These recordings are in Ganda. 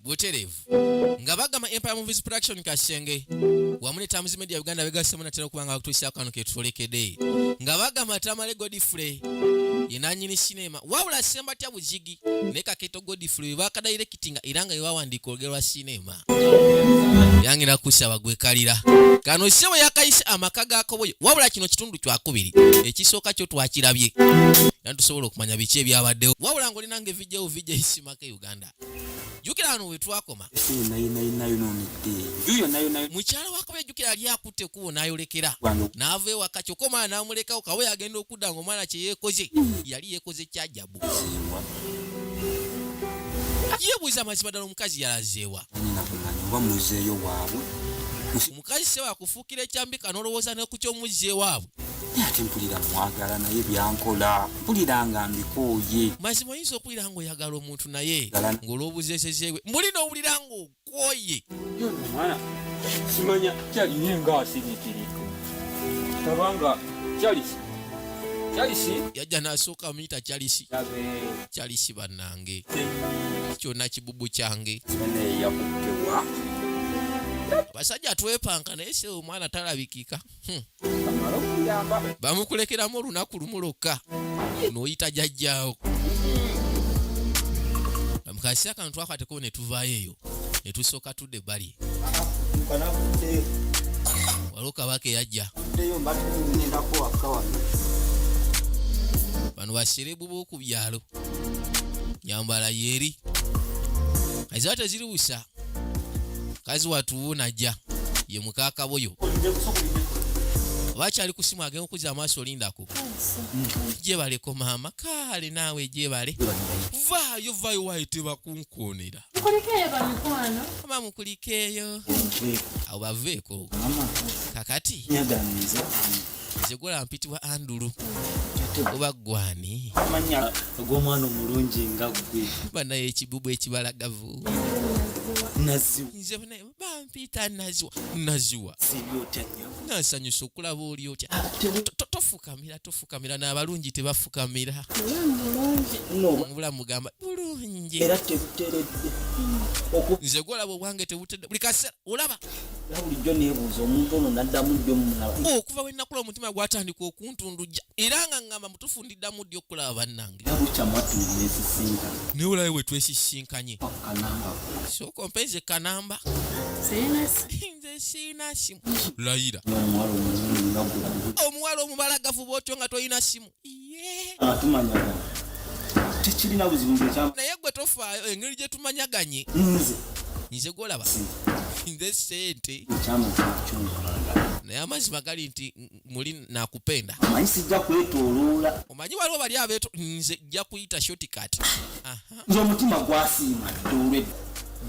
buterevu nga bagamba empire movies production kasenge wamu ne tamuzi media uganda begasemu natera okuba nga bakutuusa kano ketwolekede nga bagamba tamale godfrey yenanyini sinema wabula sembatya bujigi ne kaketo godfrey webakadairekitinga era nga yewawandiika olugero lwa sinema yangira kusaba gwekalira kano sebo yakayise amaka gakoboyo wabula kino kitundu kyakubiri ekisooka kyo twakirabye nantusobola okumanya biki ebyabaddewo wabula ngaolinange bijja buvijja isimaka uganda jukira wano wetwakoma mukyala wakabe jukira ali akutte kubo nayolekera naava ewaka kyokka omwana namulekawo kawe agenda okudda nga omwana kyeyekoze yali yekoze kyajabu yebuuza amazima ddala omukazi yalazeewa omukazi sewakufu okukira ekyambika n'olowooza ne ku ky'omuzzi ewaabwe naye ate mpulira mwagala naye byankola mpulira nga mbikooye mazima oyinza okuwulira ng'oyagala omuntu naye ng'olw'obuzeezezeewe mbuli n'owulira ng'okooye omwana simanya kyaliye nga asirikirika tabanga kyalisi kyalisi yajja n'asooka amuyita kyalisi kyalisi bannanga kyange kyona kibubu kyange abasajja twepanka naye se omwana talabikika hmm. bamukulekeramu olunaku lumu lwokka noyita jajjaawo mukasi akantu akateko netuvayo eyo netusooka tude bali waliwo kabaka eyajja bano baserebu b'oku byalo nyambala yeri aziba teziri busa kazi watuwu najja ye mukakaboyo bakyali kusimu agenda okuza amaaso olindako jebaleko maama kaale naawe jebale vaayo vaayo wayo tebakunkonera mukulikeeyo bamikwano ama mukulikeeyo awo baveeko kakati zegula mpitibwa andulu oba gwani amanya gw'omwana omulungi nga gwe banaye ekibubu ekibalagavu naziwe bampiita naziwa naziwa nasanyusa okulaba oli otya ah, tofukamira tofukamira n'abalungi tebafukamira mubulamu mugamba bulungi nze gwolaba obwange tebutedde buli kaseera olaba bulijjo nebuuza omuntu ono naddamu jjo mumulaba okuva wenakula omutima gwatandika okuntundujja era nga ngamba mutufu ndi tuddamu ddi okulaba bannange naye olabe bwe twesisinkanye sooka ompeeze kanamba nze siina simu layira omuwala omubala gavuba otyo nga tolina simu tekirina buzibu naye gwe tofaayo engeri gye tumanyaganye nze nze gwolaba nze sente naye amazima gali nti muli nakupenda omanyi sijja kwetoloola omanyi waliwo bali abeto nze jja kuyita shortcut nze omutima gwasiima dolwe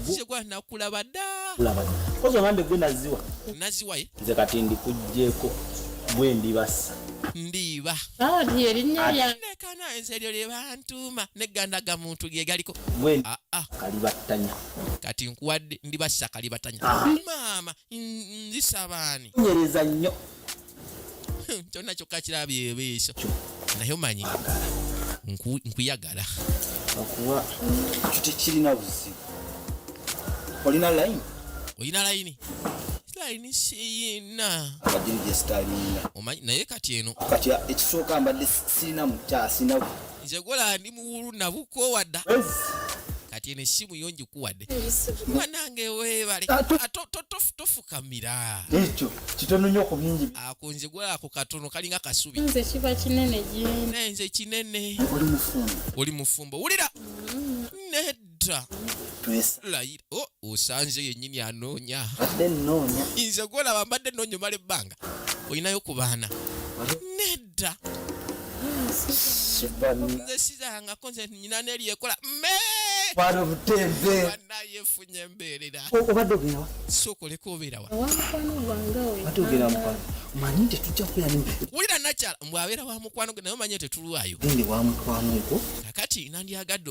nze gwa nakulaba dda kulaba kozi ogambye gwe naziwa naziwa ye nze kati ndikujjeko gwe ndibasa ndiiba ah, lyerinyalekana ensi eryo lyebantuuma negandaga muntu lyegaliko ah, ah. kalibattanya kati nkuwadde ndibassa kalibattanya maama ndisabaani nyereza nnyo kyonna kyokka kirabye ebiiso naye omanyi nkuyagala okuwa ekyo tekirina buzibu olina layini olina layini line siyina naye kati eno kati ekisooka mbadde sirina mukya sinabu nze gola ndi muwulu nabukoowa dda kati eno essimu yo ngikuwadde banange webale ah, tofukamira ekyo kitono nyo ku bingi ako nze gola ako katono kalinga kasubi nze kiba kinene gyendi naye nze kinene oli mufumbo oli mufumbo wulira mm. dda layira oh, osanze yennyini anoonya nze gwolaba mbadde noonya omala ebbanga olinayo ku baana nedda nze sizangako nze nyina neryekola nayefunye embeerera sokoleka obeerawa manyi nti tujja kuyanwulira nakyala mbwabeera wa mukwano gwe naye omanye tetulwayo kakati nandyagadde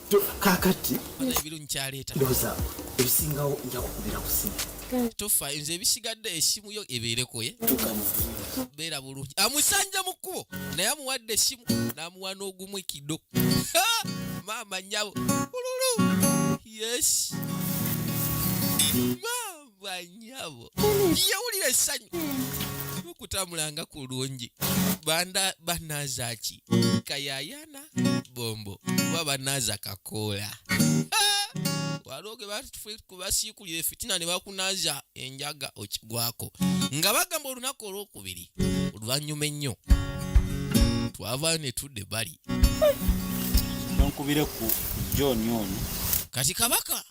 kakati ebirungi kyaleeta ndowooza ebisingawo nja kukubira ku simu tofaayo nze ebisigadde esimu yo ebeerekoye beera bulungi amusanja mu kkubo naye amuwadde esimu n'amuwa n'ogumu ekido maama nyabo ululu yes banyabo yewulira essanyu okutambulanga ku lungi banda banaza ki kayayana bombo oba banaza kakoola waliwo ge basiikulira efitina ne bakunaza enjaga okigwako nga bagamba olunaku olwokubiri oluvannyuma ennyo twavaayo ne tudde bali nkubire ku john ono kati kabaka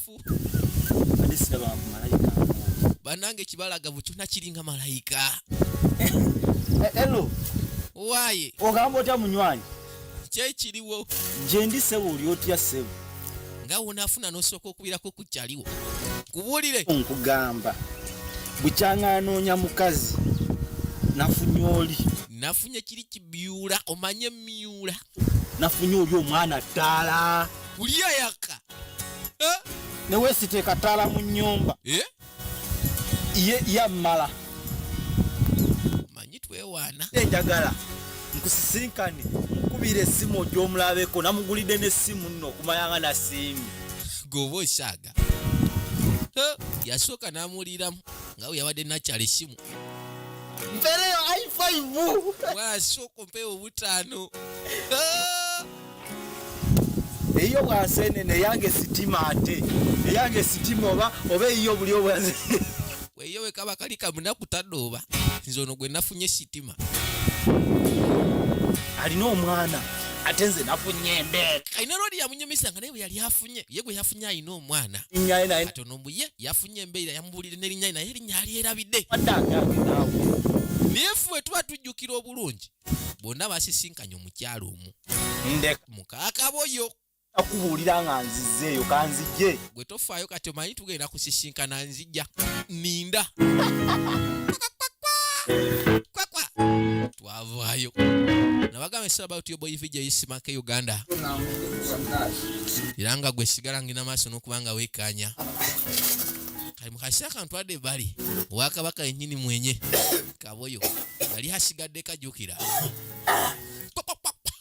muffu banange kibalaga bukyo nakiringa malayika elo waye ogamba otya munywanyi kyekiriwo gyendi sebo oli otya sebo nga wonafuna nosooka okubirako kukyaliwo kubulire nkugamba bukyanga anoonya mukazi nafunye oli nafunye kiri kibyula omanye myula nafunye oli omwana ttaala kuliyayaka eh? ne weesiteeka ttaala mu nnyumba eh? ye yammala manyi twewaana enjagala nkusisinkane nkubira essimu ogyomulabeko namugulidde n'essimu nno okumayanga nasiimi goba osaaga eh? yasooka n'amuwuliramu nga we yabadde nakyala essimu mpereyo aifaivu bwasoko mpewo butano ah! eyiyo bwasenene eyange sitima ate eyange sitima oba oba eyiyo buli obwaze weyo wekaba kali kamunaku tadooba nze ono gwe nafunye sitima alina omwana ate nze nafunye embeera alina lwali yamunyumisa nga naye bwe yali afunye ye gwe yafunye alina omwana ate ono mbuye yafunye erinnya embeera yamubuulira n'erinnya naye erinnya alyerabidde naye ffe tuba tujjukira obulungi bonna basisinkanye omukyalo omu mukakaboyo akubuulira nga nzizeeyo kanzijje gwe tofaayo kati omanyi tugenda kusisinkana nzija ninda twavaayo nabagamba it's about your boy video yisimake uganda era nga gwe sigala ngina maaso n'okubanga wekanya kali mukasi akantu adde bali owakabaka yenyini mwenye kaboyo yali asigadde kajukira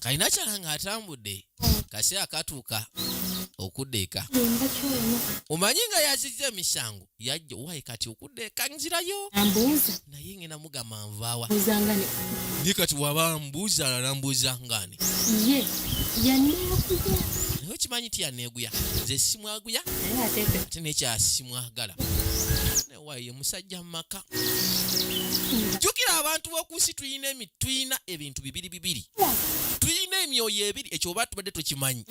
kalina kyala nga atambudde kasi akatuuka okudda eka omanyi nga yazizza emisango yajja owaye kati okudda eka nzirayo naye ngenda mugamba nvaawa naye kati waba mbuuza alambuuza ngani ye yaneeguya naye okimanyi ti yaneeguya nze simwaguya ate nekyasimwagala nawaye musajja mu maka jjukira abantu b'oku nsi tulina tulina ebintu bibiri bibiri tulina emyoyo ebiri ekyo oba tubadde tukimanyi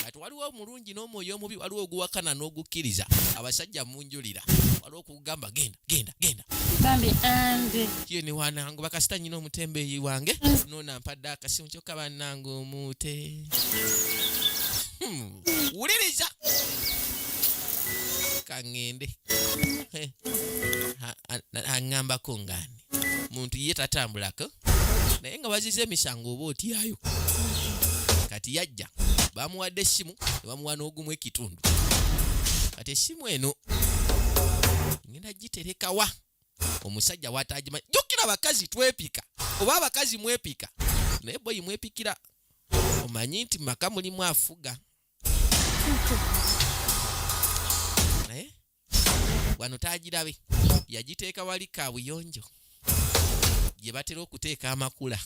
kati waliwo omulungi n'omwoyo omubi waliwo oguwakana n'ogukkiriza abasajja munjulira waliwo kugamba genda genda genda bambi ande ye ni wanangu bakasita nyina omutembeyi wange nona mpadde akasimu kyokka banange omuute hmm. wuliriza kangende aŋambako ngani muntu ye tatambulako naye nga baziza emisango oba otyayo kati yajja bamuwadde essimu ne bamuwa n'ogumu ekitundu kati essimu eno ngenda giterekawa omusajja watagimanyi jjukira abakazi twepika oba abakazi mwepika naye boyi mwepikira omanyi nti maka mulimu afuga wano taagirabe yagiteeka wali kaabuyonjo gye batera okuteeka amakula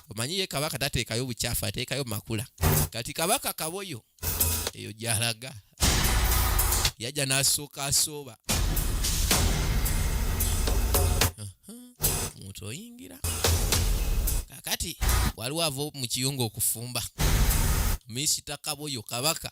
omanyi ye kabaka tateekayo bukyafu ateekayo makula kati kabaka kaboyo eyo gyalaga yajja n'asooka asooba muntu oyingira kakati waliwo ava mu kiyungu okufumba misita kaboyo kabaka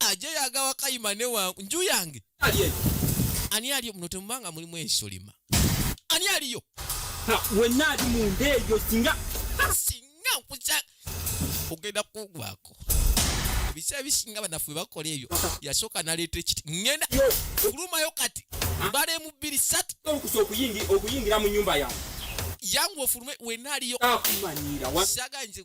aje yagawa kayima ne wangu nju yange ani aliyo muno temubanga mulimu ensolima ani aliyo wenna ali munda eyo singa singa nkuza ogenda kugwako ebiseera bisinga banafu bebakola ebyo yasooka naleeta ekiti ŋenda kulumayo kati mbala emu bbiri satu okuyingira mu nyumba yange yangu ofulume wenaaliyo saga nze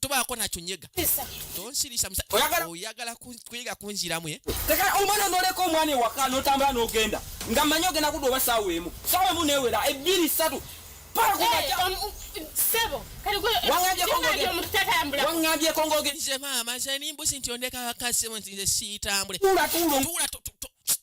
tobaako nakyo nyega tonsirisa oyagala kuyiga kunziramu eh? omwana noleka omwana ewaka notambula nogenda nga manyi ogenda kudda oba saawa emu saawa emu newera ebbiri satu waŋambyeko ngogenze maama nze nimbusi nti ondeka wakasimu nti nze siitambule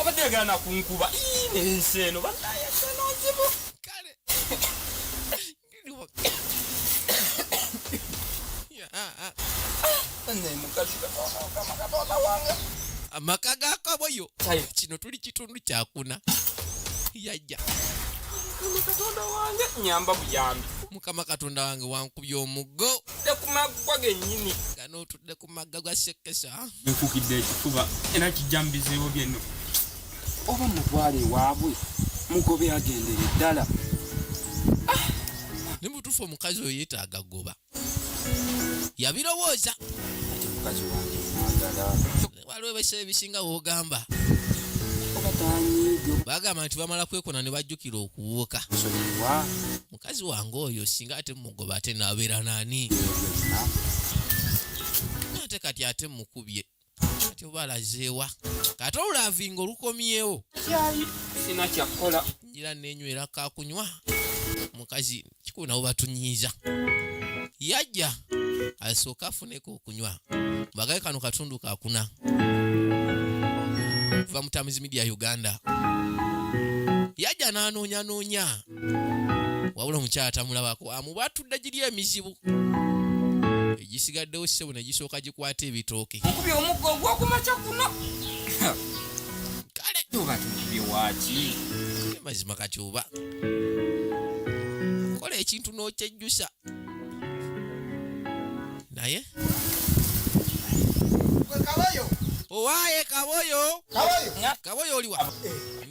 abadde yagala nakunkuba nensi eno banayesenonzibu kale amaka gakaboyo kino tuli kitundu kyakuna yajja katonda wange nyamba buyambi mukama katonda wange wankubya omuggo tekumaggwa genyini ganootudde ku magga ga sekesa nkukidde ekifuba era kijja mu bizibu byenno oba mutwale ewaabwe mugobe agendere ddala ah! ne mutuufu omukazi oyo yetaaga goba yabirowooza waliwo ebiseera ebisinga wogamba bagamba nti bamala kwekona ne bajjukira okuwuuka mukazi wange oyo singa ate mugoba ate nabeera nani ate kati ate mukubye kati oba alazeewa kati olulavinga olukomyewo sina kyakola njira nenywera kakunywa mukazi kikulu nabo batunyiiza yajja asooka afuneko okunywa mbagaye kano katundu kakuna kuva mutamizi media uganda yajja n'anoonyanoonya wabula omukyala tamulabako amuba atudde giri emizibu egisigaddewo sisebo ne gisooka gikwata ebitooke okubye omugga ogwokumakya kuno kale oba tukubye waki mazima kati oba kola ekintu n'okyejjusa naye owaye kaboyo kaboyo oliwa eh.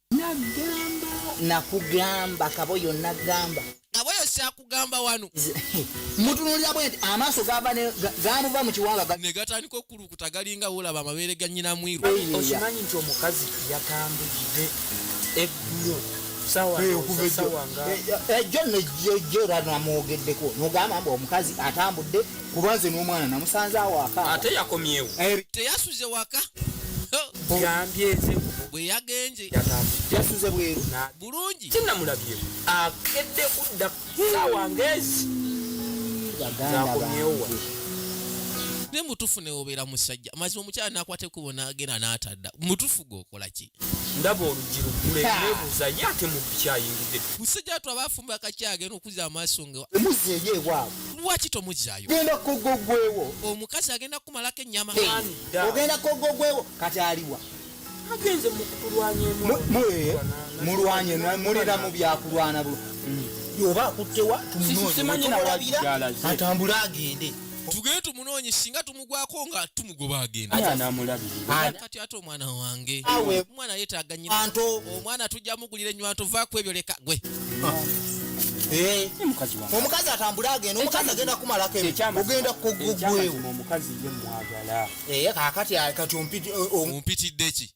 Nagamba nakugamba kaboyo nagamba kaboyo syakugamba wano mutunulira bwe nti amaaso gava gamuva mu kiwanga ne gatandika okulukuta galinga wolaba amabeere ga nyina mwiru okimanyi nti omukazi yatambudde eggulo sawasawa nga ejjo nejjojjo lwanamwogeddeko nogamba mbu omukazi atambudde kuba nze n'omwana namusanze awaka ate yakomyewo eh, teyasuze waka bwe yagenze yasuze bweru bulungi kinamulabye akedde kudda saawa ngezi zakomyewo ne mutufu newobeera musajja mazima omukyala nakwata ekubo nagenda natadda mutufu gwokola ki ndaba oluggi luggule nebuuza ye ate mubbi kyayingidde musajja watu aba afumba kaki agenda okuzza amaaso nga emuzza eri ewaabwe lwaki tomuzzaayo genda kogogwewo omukazi agenda kukumalako ennyama ogenda kogogwewo kati aliwa agenze mulwanye mulina mu byakulwana bu mm. oba akuttewa tumunoonye atambule agende tugende tumunoonye singa tumu gwako nga tumugoba agendakati ate omwana wange omwana yetaaga nyina omwana tujja mugulira enywanto va ku ebyo leka gwe eh. omukazi atambule agenda omukazi agenda kumalako ogenda kugwewo eh, kakati eh, ompitiddeki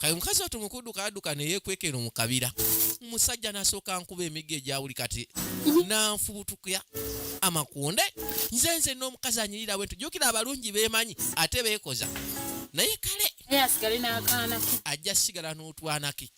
kati omukazi watu mukuduka aduka neyekwekero mukabira omusajja nasooka nkuba emigo egyawuli kati mhm. nanfubutuka amakunde nze nze n'omukazi anyirira bwentu jukira abalungi bemanyi ate bekoza naye kale ajja sigala n'otwanake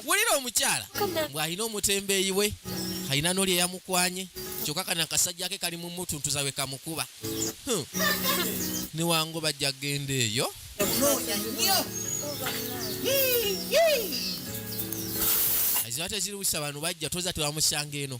wulira omukyala bw'alina omutembeeyi we alina n'oli eyamukwanye kyokka kana akasajja ke kali mu mutuntuza we kamukuba hmm. newango bajja kugenda eyo zibate ziruwisa bano bajja toza tebamusanga eno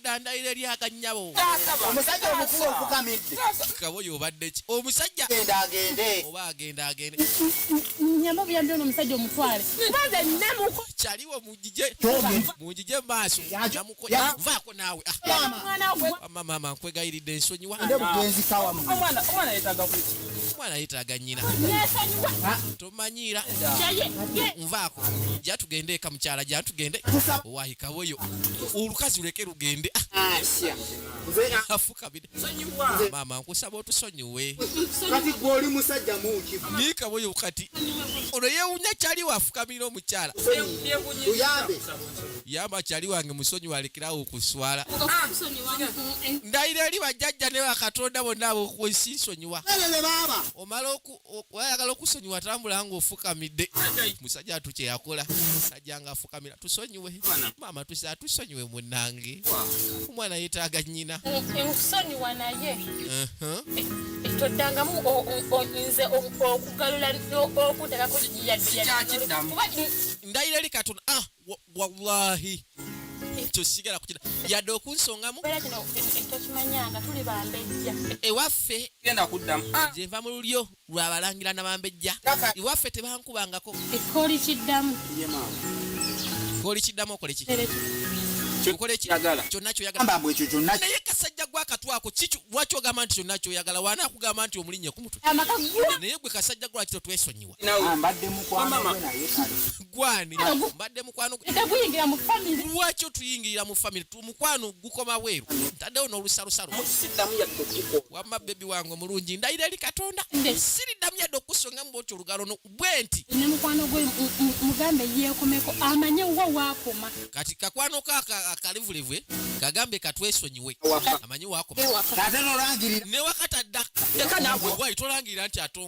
dda ndayira eri akannyabo omusajja omukulu ofukamidde kaboyo obadde ki omusajja genda agende oba agenda agende nyama buyambi ono omusajja omutwale kubanze namuko kyaliwo mujije mujije maaso namukovaako naawe ah. mama nkwegayiridde ensonyiwa omwana yetaaga nyina manyiira nvaako ja tugende eka mukyala ja tugende wahikawoyo olukazi luleke lugende afukabire maama nkusaba otusonyiwe nikawoyo kati ono yewunya kyali wafukamira omukyala yamba kyali wange musonyi walekerawo okuswala ndayira eri bajjajja ne bakatonda bonna abokunsisonyiwa omala oku wayagala okusonyiwa tambula nga ofukamidde musajja atu kyeyakola musajja nga afukamira tusonyiwe maama tusa atusonyiwe munange omwana yetaaga nyina nkusonyiwa naye toddangamu nze okugalula okudagako ndayira eri katonda ah, wallahi ekyo sigala kukira yadde okunsongamu ewaffe gyenva mu lulyo lwabalangira nabambejja ewaffe tebankubangako ekkooli kiddamu ekkooli kiddamu okoleki naye kasajja gwakatwako lwaki ogamba nti kyonna kyoyagala wana akugamba nti omulinye ku mutwe naye gwe kasajja gwlwaki totwesonyiwa Ah, mbadde mukwano naye kale gwani mbadde mukwano teguyingira mu family lwaki otuyingirira mu family mukwano gukoma weeru ntaddewo n'olusalusalo wamma bebi wange omulungi ndayira eri katonda siriddamu yadde okukusonga mu bwoti olugalo no bwe nti ne mukwano gwe mugambe yeekomeko amanye wa waakoma kati kakwano kaka akalivulivwe kagambe katwesonyiwe amanye waakoma newakatadda tolangirira nti ato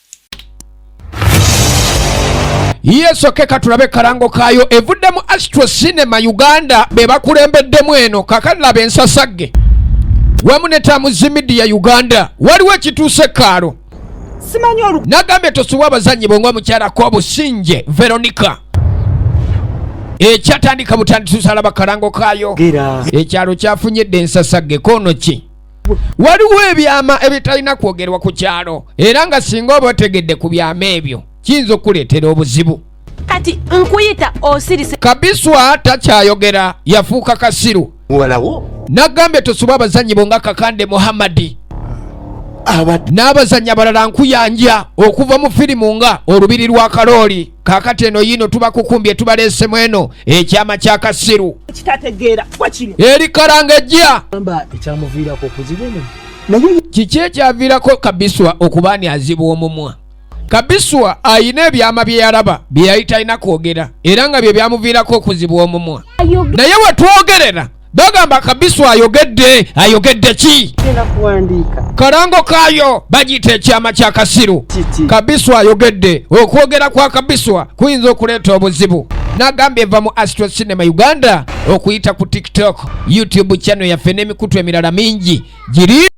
yesoke katulabe kalango kayo evuddemu astro cinema uganda bebakulembeddemu eno kakalaba ensasagge wamu ne tamuzi midiya uganda waliwo ekituuse kaalo nagambye tosubwa abazannyi bwe ngaomukyalako obusinje veronica ekyatandika butandisusalaba kalango kayo ekyalo kyafunyedde ensasagge kono ki waliwo ebyama ebitalina kwogerwa ku kyalo era nga singa oba otegedde ku byama ebyo kiyinza okukuleetera obuzibu kati nkuyita osirise kabiswa takyayogera yafuuka kasiru muwalawo nagambye tosuba abazannyi bo nga kakande muhammadi n'abazannyi abalala nkuyanja okuva mu firimu nga olubiri lwa kalooli kakati eno yiino tubakukumbye tubaleesemu eno ekyama kya kasiru eri kalanga ejja kiki ekyaviirako kabiswa okuba ani azibwa omumwa kabiswa ayina ebyama bye yalaba bye yali talina kwogera era nga bye byamuviirako okuzibwa omumwa naye wetwogerera bagamba kabisu ayogedde ayogedde ki kalango kaayo bagiyita ekyama kya kasiru kabisu ayogedde okwogera kwa kabiswa kuyinza okuleeta obuzibu nagamba eva mu astro cinema uganda okuyita ku tiktok youtube channel yaffe n'emikutu emirala mingi giri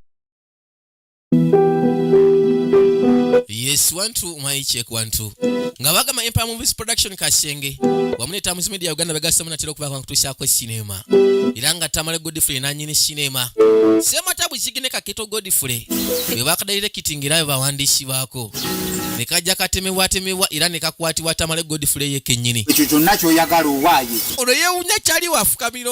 yes one two my check one two nga bagamba empire movies production kasenge wamu ne tamuzi media uganda begasemu natera okuba kankutuusaako sinema era nga tamale godfrey nanyini sinema semata buzigine kaketo godfrey bwe bakadalire kitinga era bebawandiisi baako ne kajja katemebwatemebwa era ne kakwatibwa tamale godfrey ye kennyini ekyo kyonna kyoyagala owaaye ono yeewunya kyali wafukamira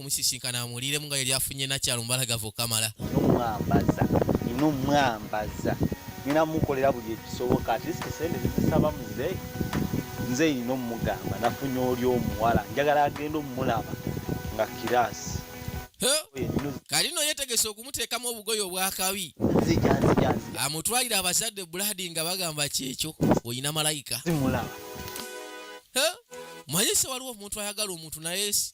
omusisinkana amuwuliremu nga yali afunye nakyalo mubalagavu okamala nomwambaza nina omwambaza nina mukolera buli ekisoboka atleast sente zisaba muze nze nina omugamba nafunye oli omuwala njagala agenda omulaba nga kirasi kalino yetegese okumuteekamu obugoyo obwakabi amutwalire abazadde buladi nga bagamba kyekyo olina malayika manyise waliwo omuntu ayagala omuntu naye si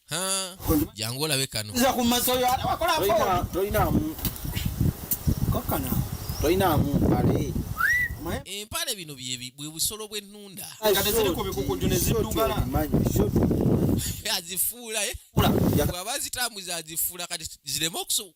jangu olabe kano empale bino bwe busolo bw'ennunda azifuula eh? bwaba zitambuza azifuula kati zireme okusobola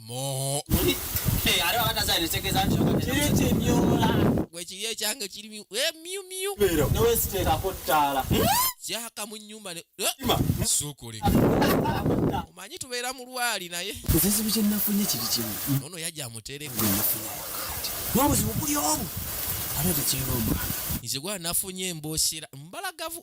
moo gwekiri ekyange kiri eh, myumyu kyaka mu nyumba eh, sukulika omanyi tubeera mu lwali naye ekizibu kyenafunye kiri kimu ono yajja amutereka n'obuzibu buli omu ate tekirina omwana nze gwa nafunye emboosera mbalagavu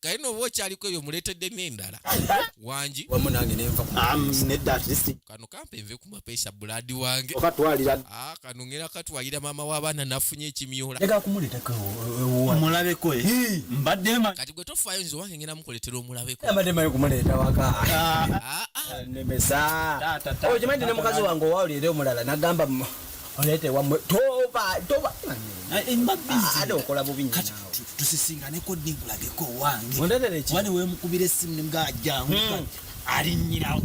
kale nooba okyaliko eyo muleetedde n'endala wangi wamu nange nenva nedda atlist kano kampe nve ku mapeesa bulaadi wange okatwalira ah, kano ngera katwalira maama w'abaana nafunye ekimyola ega kumuleetako omulabeko eh, eh. mbadde ma kati gwe tofaayo nze wange ngera mukuleetera omulabeko mbadde mayo kumuleeta waka ah, ah. nemesa okimanyi ne mukazi wange owawulira omulala nagamba oleete wamwe toba toba ade okola bubi nyo tusisinganeko ddi nkulageko owange oba ne wemukubira essimu nimugaa jangu hmm. alinyirawo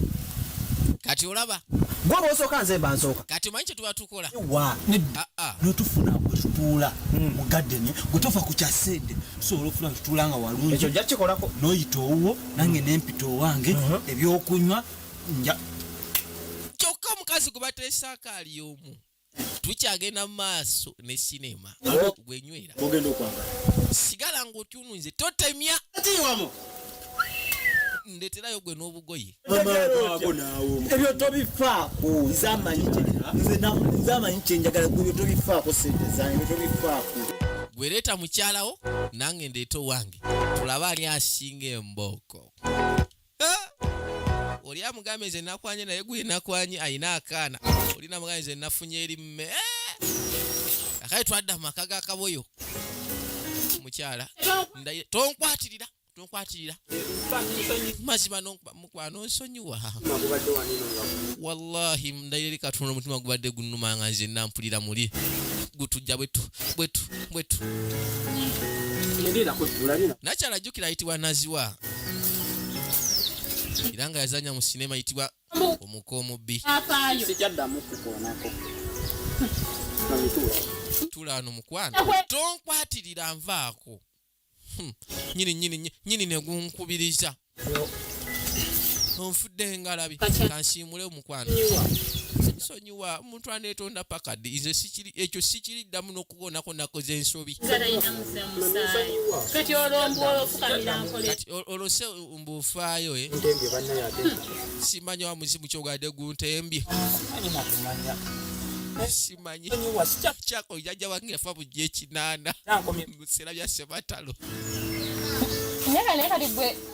kati olaba gwe bwosooka nze mba nsooka kati omanyi kyetuba tukola wa ah, ah. netufuna wetutuula hmm. mu gadeni gwetufa ku kyasente tusobola okufuna tutuula nga walungi ekyo jja kikolako noyita owuwo nange nempita owange uh-huh. ebyokunywa kyokka omukazi gwe bateesaako ali omu tukyagenda mu maaso ne sinema gwenywera sigala ngaotyununze totemya ndeterayo gwe n'obugoye ebyo tobifaako nze amanyi kyenjagala ebyo tobifaako sente zange ebyo tobifaako gwereeta mukyalawo nange ndeeta owange tulabe ani asinga embooko oli amugambe nze nakwanye naye gwe nakwanye ayina akaana oli namugambe nze nafunye eri mme eh! akale twadda mu maka ga kaboyo mukyala tonkwatirira tonkwatirira mazima mukwano nsonyiwa wallahi ndayiri katonda omutima gubadde gunuma nga nze nampulira muli gutujja bwetu bwetu bwetu nakyala jjukira ayitibwa naziwa era nga yazanya mu sinema yitibwa omuka omubbi tulaano mukwano tonkwatirira nvaako hmm. nyini nyini nyini negunkubiriza onfudde engalabi kansiimule omukwano sonyiwa omuntu aneetonda pakadi nze ekyo sikiri ddamu kuwonako nakoze ensobi kati olose mbuufaayo eh? simanyi wa muzimu kyogade guntembye simanyi kyako jajja wange yafa bujja ekinaana mu biseera bya sebatalo naye kati gwe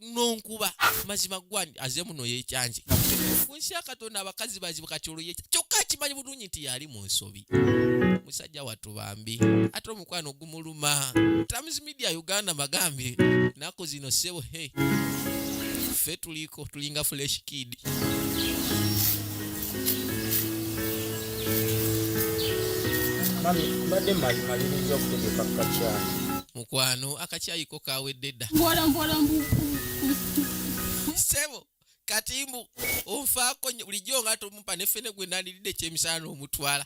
nonkuba mazima gwani aze muno yekyanje kunsi ya katonda abakazi bazibu kati olwo yekya kyokka akimanyi bulungi nti yali mu nsobi musajja wattu bambi ate omukwano gumuluma times media uganda magambye naku zino sebo he ffe tuliko tulinga flesh kid mbadde malimaliriza okutegeka kukakyayi mukwano akakyayi kawedde dda sebo kati mbu onfaako bulijjo nga tomumpa nefene gwe nandiridde ekyemisana n'omutwala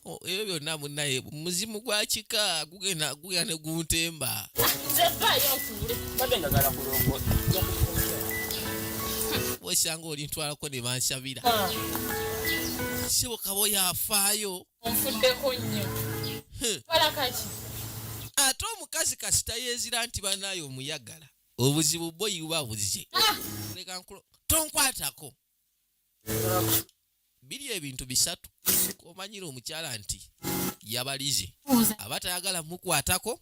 oh, ebyo byonna munaye muzimu gwa kika gugenda guya ne guntemba osanga olintwalako ne bansabira ah. sebo kaba oyafaayo onfuddeko nnyo kola kaki ate omukazi kasita yezira nti banaye omuyagala obuzibu bwo iwa buze ah! tonkwatako biri ebintu bisatu komanyira omukyala nti yabalize aba tayagala mukwatako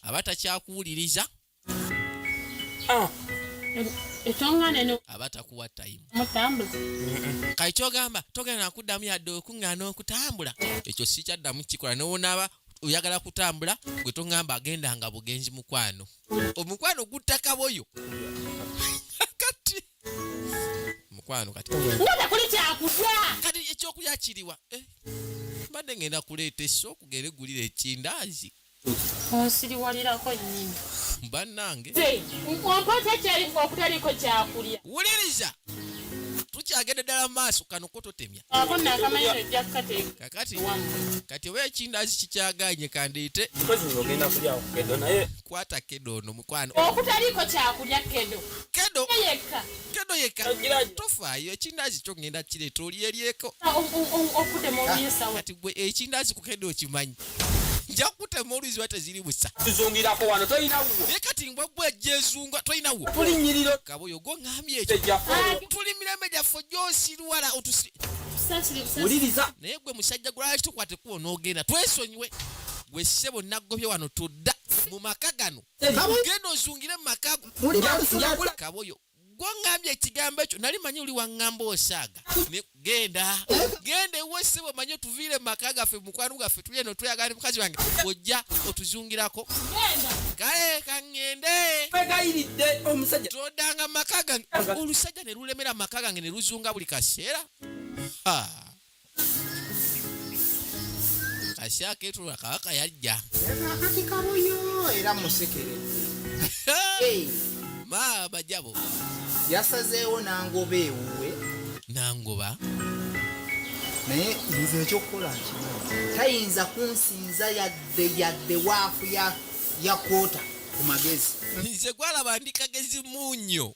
aba takyakuwuliriza Ah, aba takuwa tayimu kati kyogamba togenda nakuddamu yadde okuŋŋaana okutambula ekyo sikyaddamu kikola nowonaaba oyagala kutambula gwe toŋamba agenda nga bugenzi mukwano omukwano gutakaboyo kati mukwano kati kati ekyokulya kiriwa eh, mbadde ngenda kuleeta esso okugere gulira ekindaazi onsiriwalirako nnyini bannange ompata kyayifu okutaliko kyakulya wuliriza tukyagende ddala maaso kano ko totemya kakati kati oba ekindazi kikyaganye kandeete kwata kedo ono mukwano okutaliko kyakulya kedo kedo yekka kedo yekka tofaayo ekindazi kyo ngenda kireeta olyeryeko okudemu ah, kati gwe ekindazi ku kedo okimanyi nja kutema oluziba teziri busa tuzungirako wano tolina wuwo naye kati mbwa gwe jezunga tolina wuwo tulinyiriro kaba oyo gwoŋambye ekyo tuli mirembe gyaffe gyosirwala otusi wuliriza naye gwe musajja gwalaki tukwate kuwo n'ogenda twesonyiwe gwe ssebo naggobye wano tudda mu maka gano kaba ogenda ozungire mu maka go kaba oyo gwongambye ekigambo ekyo nali manyi oli wangamba osaaga genda genda ewe sebo manyi otuviire mumaka gaffe mukwano gaffe tuli eno tweyagala mukazi wange ojja otuzungirako kale kaŋŋende kwegayiridde omusajja todanga maka gange olusajja ne lulemera maka gange ne luzunga buli kaseera Ashaka etu kabaka yajja. Eba akati kabuyo era musekere. hey. Ma bajabo. Yasazeewo nangoba ewuwe. Nangoba. naye nze ekyokukola nkimu tayinza kunsinza yadde yadde waafu ya kota ku magezi nze gwalaba ndi kagezi munyo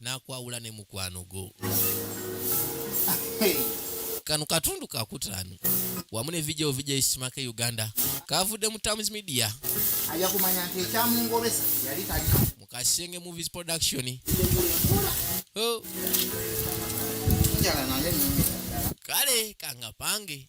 nakwawula ne mukwano go kano katundu kakutaano wamu ne vidio vidio isimaka e uganda kavudde mu tams media aja kumanya nti ekyamungobesa yali tali mu kasenge movies production oh. kale kangapange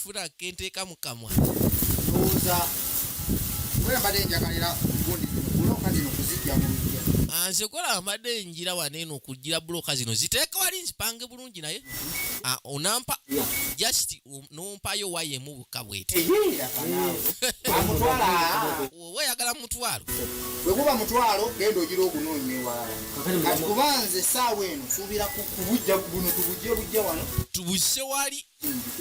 funa kenteeka mu kamwa ndowooza kubera mbadde njagalira gundi buloka zino kuzijja mu lujja ah, nze kola mbadde njira wano eno okujjira buloka zino ziteeka wali nzipange bulungi naye ah, onampa just um, nompayo waya emu bukka bwete oba yagala mutwalo bwekuba mutwalo genda ogira ogunoonya ewalala kati kuba nze esaawa eno suubira kubujja buno tubujje bujja wano tubujje wali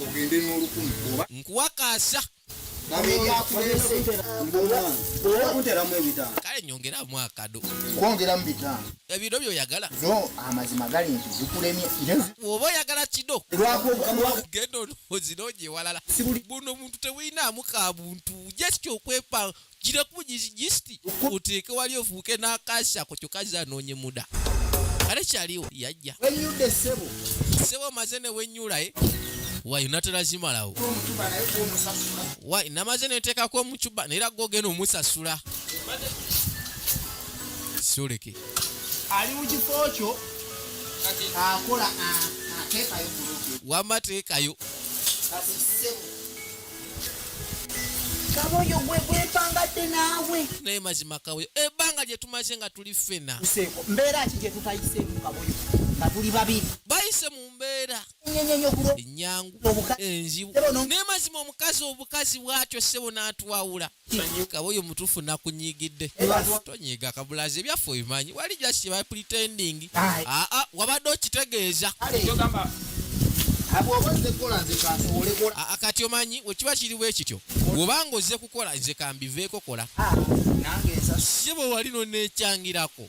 ogende n'olukumi oba nkuwakaasa kale nyongeramu akado kwongeramu bitaano ebiro byoyagala no amazima gali nti zikulemye oba oyagala kido genda onozinoonye ewalala buno omuntu tewuyinaamu ka buntu just okwepanga gira ku gisiti oteeke wali ofuuke n'akasha ku kyoka zanoonye muda kale kyaliwo yajja wenyudde ssebo ssebo omaze ne wenyula e eh? wayi natera zimalawo wayi namaze neteekako omucuba naye era gogenda omusasula soleke ali mu kifo kyo akola ateekayo wamateekayo kaboyo gwe gwepangadde naawe naye mazima kaboyo ebbanga gye tumaze nga tuli ffena useeko mbeera ki gye tutayiseemu kaboyo nga tuli babiri bayise mu mbeera enyangu enzibu naye mazima omukazi obukazi bwatyo ssebo n'atwawula kaba oyo mutuufu nakunyigidde tonyiga kabulazi ebyaffe obimanyi wali just ba pretending aa ah, ah, wabadde okitegeeza ah, kati omanyi wekiba kiri bwe kityo bwobanga ozze kukola nze kambiveeko kola si bwe wali nonekyangirako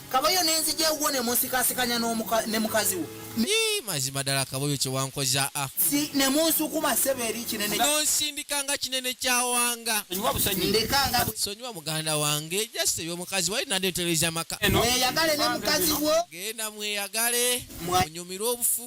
Kaboyo nenzija ewuwo nemunsikasikanya ne mukazi wo. Yii mazima dala kaboyo kyewankoza a. Ah. Si nemunsukuma sebo eri kinene. Nonsindika nga kinene kyawanga. Sonyiwa busonyi. Ndeka nga. Sonyiwa muganda wange just ebyo mukazi wali nade nteleza maka. Mweyagale ne mukazi wo. Genda mweyagale. Munyumirwe obufu.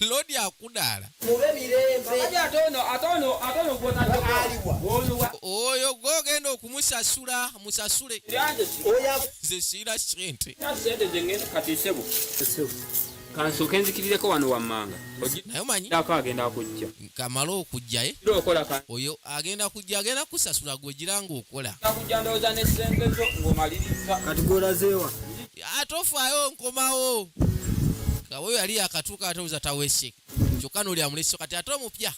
lodi akudaala oyo gogenda okumusasula musasule nze siira sente kansoke nzikirireko wano wammanga naye omanyi agenda kujja kamala okujjaye oyo agenda kujja agenda kusasula gwegira ngaokola ate ofaayo nkomawo kaweyo yali yakatuuka ate oza tawese kyokka noli amuleso kati ate omupya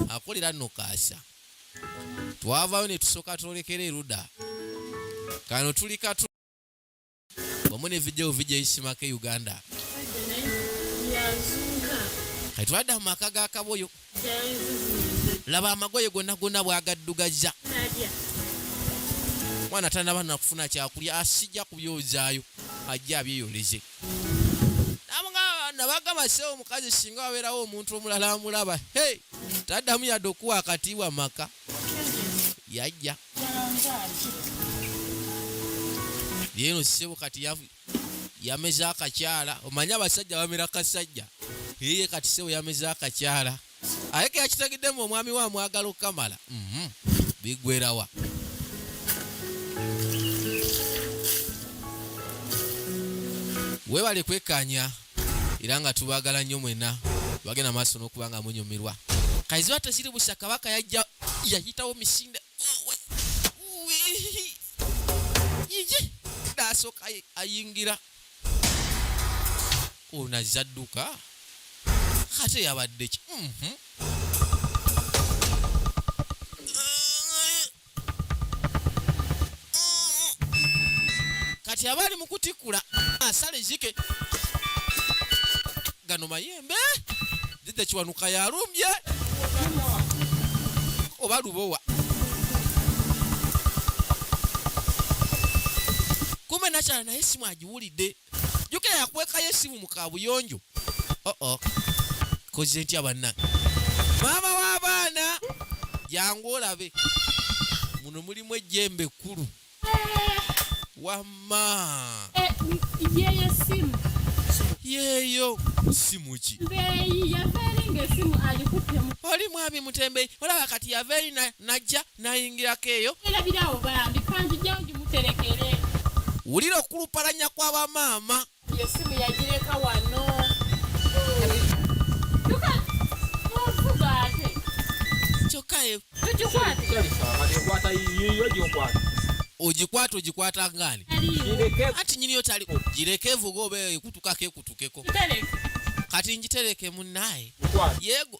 akolera nno kaasa twavayo ne tusooka twolekera eruda kano tuli katu wamu ne vidiyo vidiyo eyisimako e uganda kati twadda mu maka ga kaboyo laba amagoye gonna gonna bwagaddugazza mwana tanaba nakufuna kyakulya asijja kubyozaayo ajje abyeyoleze nabagamba sewo omukazi singa wabeerawo omuntu omulala amulaba he taddamu yadde okuwa akatiibwa maka yajja yeeno ssebo kati yameze akakyala omanyi abasajja bamera kasajja eye kati ssebo yameze akakyala aye keyakitagiddemu omwami we amwagala okukamala mhm. bigwerawa webale kwekanya era nga tubagala nnyo mwena bagenda maaso n'okuba nga munyumirwa kaiziba tekiri busa kabaka yajja yayitawo misinda yiji nasooka ayingira ono azze adduka ate yabadde ki mhm. kati aba ali mu kutikkula asala ezike gano mayembe didde kiwanuka yalumbye oba lubowa kumbe nakyala naye simu agiwulidde jukira yakwekayo esimu mu kabuyonjo oh -oh. koze ntya banna maama w'abaana jangu olabe muno mulimu ejjembe ekkulu wamma eh, yeyo simu yeyo simu ki oli mwami mutembeyi olaba kati yava eri najja nayingirako eyo wulira okulupalanya kwa bamaama ogikwata ogikwata ngani anti nyiniyo tali gireke evuga oba ekutukako ekutukeko kati njitereke munaye yego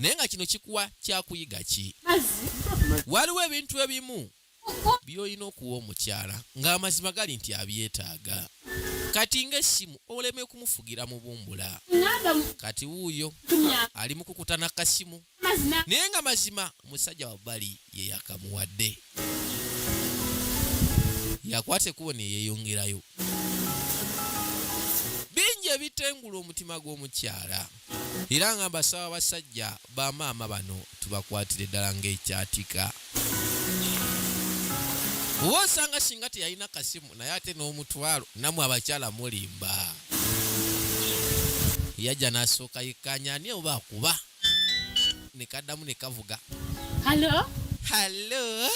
naye nga kino kikuwa kyakuyiga ki waliwo ebintu ebimu byolina okuwa omukyala ng'amazima gali nti abyetaaga kati ng'essimu oleme kumufugira mubumbula kati wuuyo ali mukukutana kasimu naye nga mazima musajja wabbali ye yakamuwadde yakwata ekkubo ne yeeyongerayo bingi ebitengula omutima gw'omukyala era nga mbasaba abasajja bamaama bano tubakwatire ddala ng'ekyatika oba osanga singa teyalina kasimu naye ate n'omutwalo namwe abakyala mulimba yajja n'asooka yekkaanya ani oba akuba ne kaddamu ne kavuga halo halo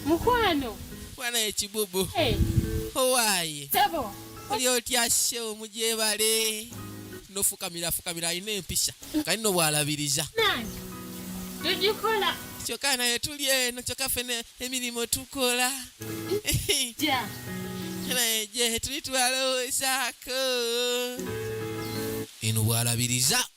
mukwano mwana ekibubu hey. owaaye sebo oli otya shewo mugyebale nofukamira afukamira alina empisha kali no bwalabiriza tugikola kyokka naye tuli eno kyokka ffe emirimu tukola naye gye tuli twalowoozaako eno bwalabiriza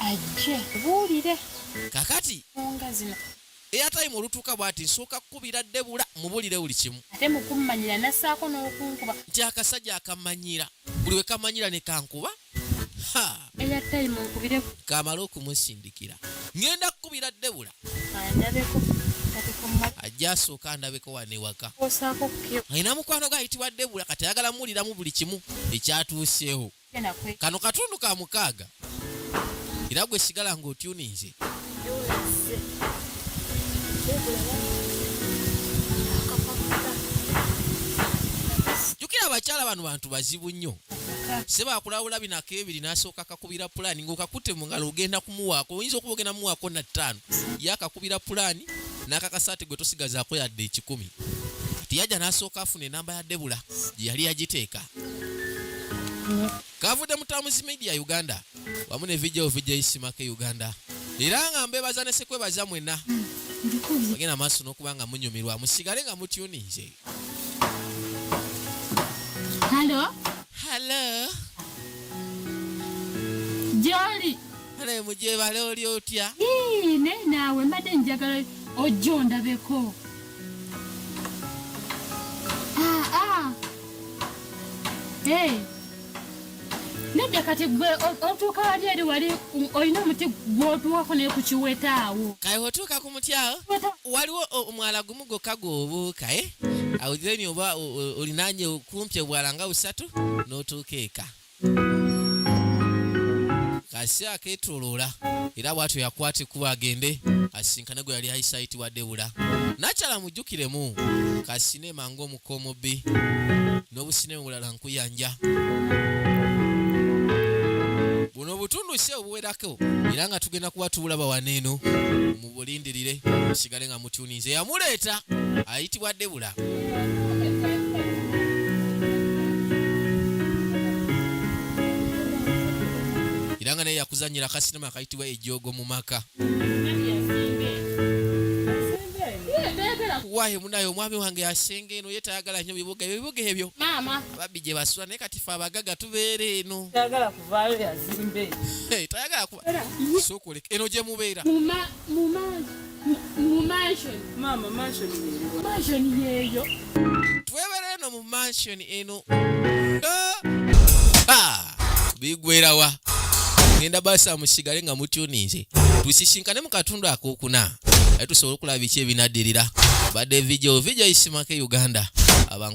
ajje buulire kakati nga zino eyatayimu olutuuka bwati nsooka kukubira debula mubulire buli kimu ate mukummanyira nassaako n'okunkuba nti akasajja akamanyira buli we kamanyira ne kankuba eya tayimu nkubire kamala okumusindikira ngenda kukubira debula andabeko ajja asooka andabeko wano ewaka alina mukwano gwe ayitibwa debula kati ayagala muwuliramu buli kimu ekyatuuseewo kano katundu ka mukaaga era gwe sigala nga otyuninze jukira abakyala bano bantu bazibu nnyo sebakulawula binako ebiri nasooka kakubira pulaani ngaokakute mu ngalo ogenda kumuwaako oyinza okuba ogenda muwaako na ttaano yakakubira pulaani n'akakasaati gwe tosigazaako yadde ekikumi tiyajja n'asooka afuna enamba ya debula gye yali yagiteeka kavudde mu Tams Media Uganda wamu ne VJ VJ Simake Uganda era nga mbebaza ne sekwebaza mwena bagenda maaso n'okuba nga munyumirwa musigale nga mutyuninze halo halo gyoli ale mugyebale oli otya ne naawe mbadde njagala ojja ondabeko aa ah, ah. Hey. nedda kati gwe otuuka wali eri wali olina omuti gwotuwako naye ku kiweta awo kale otuuka ku muti awo waliwo omwala gumu gwokka gwobuuka e eh? awo then oba olinanye kumpi obwala nga busatu n'otuuka eka Kasi aketoloola era bwatyo yakwata ekkubo agende asisinkane gwe yali ayise ayitibwa Debula. Nakyala mujjukiremu kasine mangu omuka omubbi n'obusine bulala nkuyanja. Buno obutundu si obuwerako era nga tugenda kuba tubulaba wano eno mubulindirire musigale nga mutuninze yamuleeta ayitibwa debula era nga naye yakuzanyira akasinema akayitibwa ejogo mu maka wahe munaye omwami wange asenga eno ye tayagala nyo bibuga ebyo bibuga ebyo babbi gye basula naye kati fe abagaga tubeera eno tayagala sokoleka eno gye mubeera twebera eno mu mansion eno bigwerawa ngenda basa musigale nga mutyuninze tusisinkane mu katundu akokuna aye tusobole okulaba biki ebinaddirira badde vijo vijo isimake uganda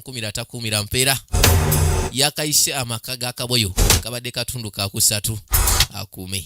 kumira takumira mpeera yakayise amaka ga kaboyo kabadde katundu kakusatu akuume